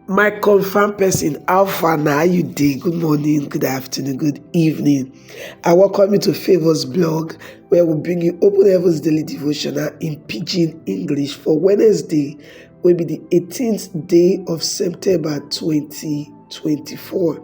my confam person how far na how you dey good morning good afternoon good evening i welcome you to favors blog where we bring you open heavens daily devotional in pidgin english for wednesday will be the 18th day of september 2024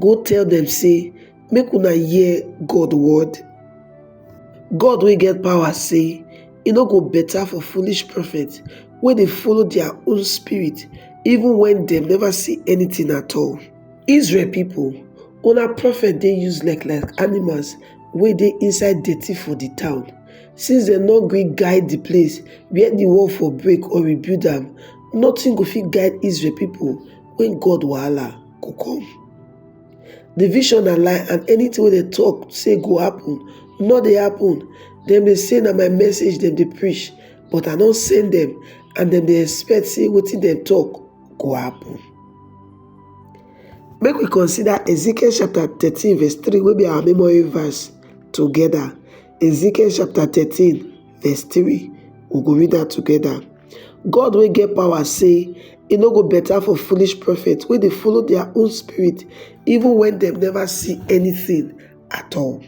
Go tell dem sey, Make una hear God word. God wey get power sey, E no go better for foolish prophet wey dey follow their own spirit even when dem never see anything at all. Israel people, una prophet dey useless like animals wey dey inside dirty for the town. Since dem no gree guide the place where the wall for break or rebuild am, nothing go fit guide Israel people when God wahala. go come the vision na lie and anything wey dem talk say go happen no dey happen dem dey say na my message dem dey preach but i don send dem and dem dey expect say wetin dem talk go happen make we consider ezekiel chapter thirteen verse three wey be our memory verse together ezekiel chapter thirteen verse 3. We go read that together. God will get power say e no go better for foolish prophets when they follow their own spirit even when they never see anything at all.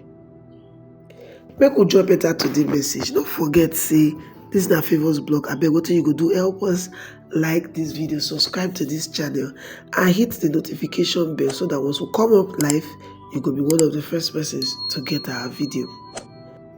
Make we join better to the message. Don't forget say this is our favours blog I beg what you go do help us like this video subscribe to this channel and hit the notification bell so that once we come up live you go be one of the first persons to get our video.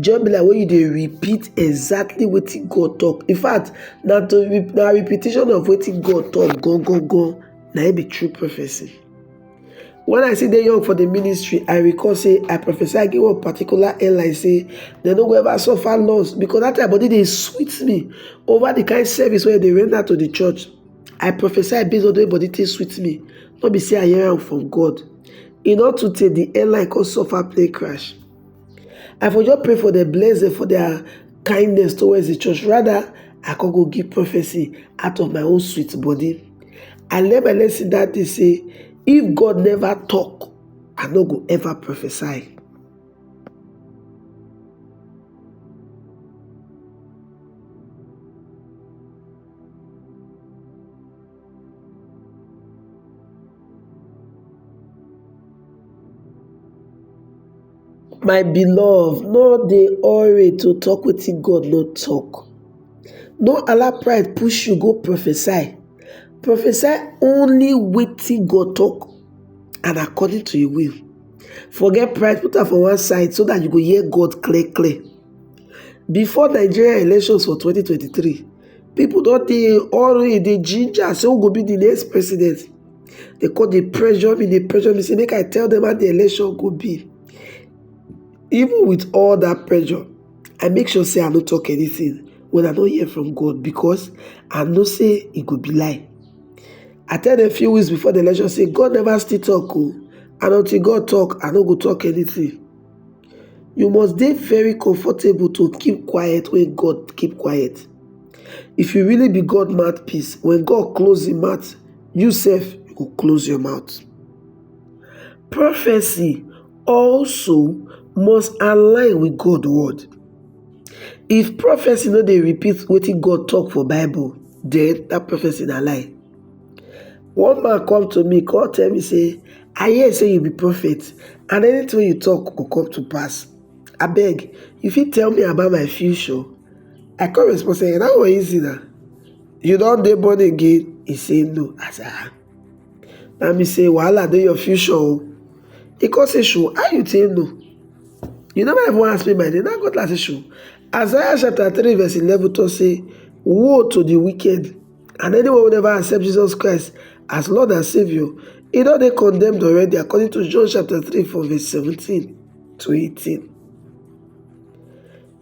just be like when you dey repeat exactly wetin god talk in fact na to na repetition of wetin god talk gangan na im be true prophecy when i still dey young for the ministry i recall say i prophesy give one particular airline say dem no go ever suffer loss because that time body dey sweet me over the kind service wey dey render to the church i prophesy based on the way body take sweet me no be say i hear am from god e no too tey the airline come suffer plane crash I for just pray for dem, bless dem for their kindness towards the church. Rather, I can go give prophecy out of my own sweet body. I learn my lesson that day say, if God never talk, I no go ever prophesy. My beloved, no dey hurry to talk wetin God no talk. No allow pride push you go prophesy. Prophesy only wetin God talk and according to im will. Forget pride, put am for one side so that you go hear God clear clear. Before Nigeria elections for 2023, People don't they already they ginger say who go be the next president. They call the pressure me, they pressure me say make I tell them how the election go be. Even with all that pressure, I make sure say I don't talk anything when I don't hear from God because I know say it could be lie. I tell them a few weeks before the election say God never still talk oh, and until God talk, I don't go talk anything. You must dey very comfortable to keep quiet when God keep quiet. If you really be God mouthpiece, when God close him mouth, you sef you go close your mouth. Prophecy also must align with God word. If prophecy no dey repeat wetin God talk for bible, then that prophecy na lie. One man come to me come tell me say, I hear say you be prophet and anything wey you talk go come to pass. Abeg, you fit tell me about my future? I come respond say, that one easy na. You don dey born again? He say, no. I say, ah. That mean say wahala dey your future o. He come say, sure, how you take know? You never even ask me my name. Now God like say, sure. Isaiah chapter 3 verse 11 talk say, woe to the wicked And anyone who never accept Jesus Christ as Lord and Savior, he don dey condemned already according to John chapter 3 from verse 17 to 18.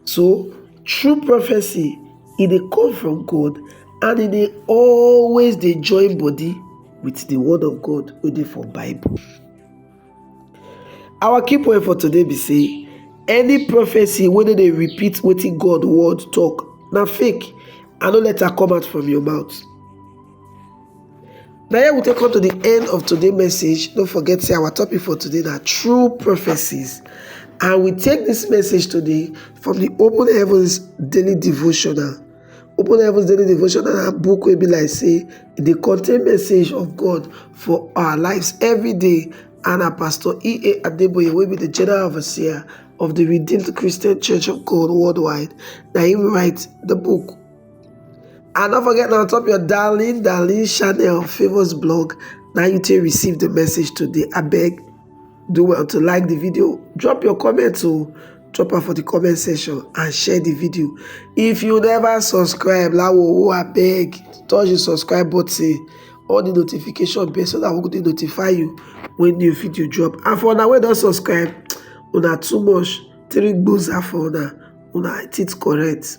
So, true prophecy, e dey come from God and e dey always dey join body with the word of God wey dey for Bible. Our key point for today be say any prophecy wey no dey repeat wetin God word talk na fake and no let am come out from your mouth. Na here we take come to the end of today's message. Don't forget say our topic for today na true prophecies. And we take this message today from the Open Heavens Daily Devotional. Open Heavens Daily Devotion na book wey be like say e dey contain message of God for our lives every day and na Pastor E.A. Adeboye wey be the General Overseer of the Redeemed Christian Church of God worldwide na him write the book. And don't forget now top your darling darling channel Favours Blog na you take receive the message today abeg do well to like the video drop your comment to drop am for the comment section and share the video if you never subscribe lawowo abeg touch the subscribe button on the notification bell so that we go dey notify you when new video drop and for una wey don subscribe una too much three gboza for una una teeth correct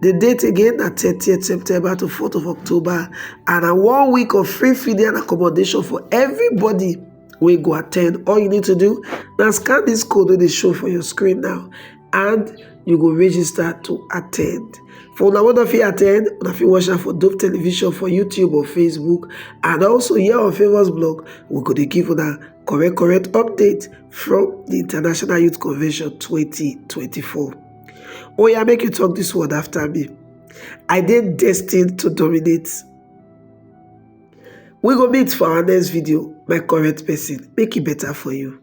di date again na thirtieth september to fourth of october and na one week of free feeding and accommodation for everybody wey go attend all you need to do na scan this code wey dey show for your screen now and you go register to attend for una wey no fit attend una fit watch am for dope television for youtube or facebook and also here on famous blog we go dey give una correct correct update from the international youth convention 2024 Oya, make you talk this word after me. I dey destined to dominate. We go meet for our next video, my correct person. Make it better for you.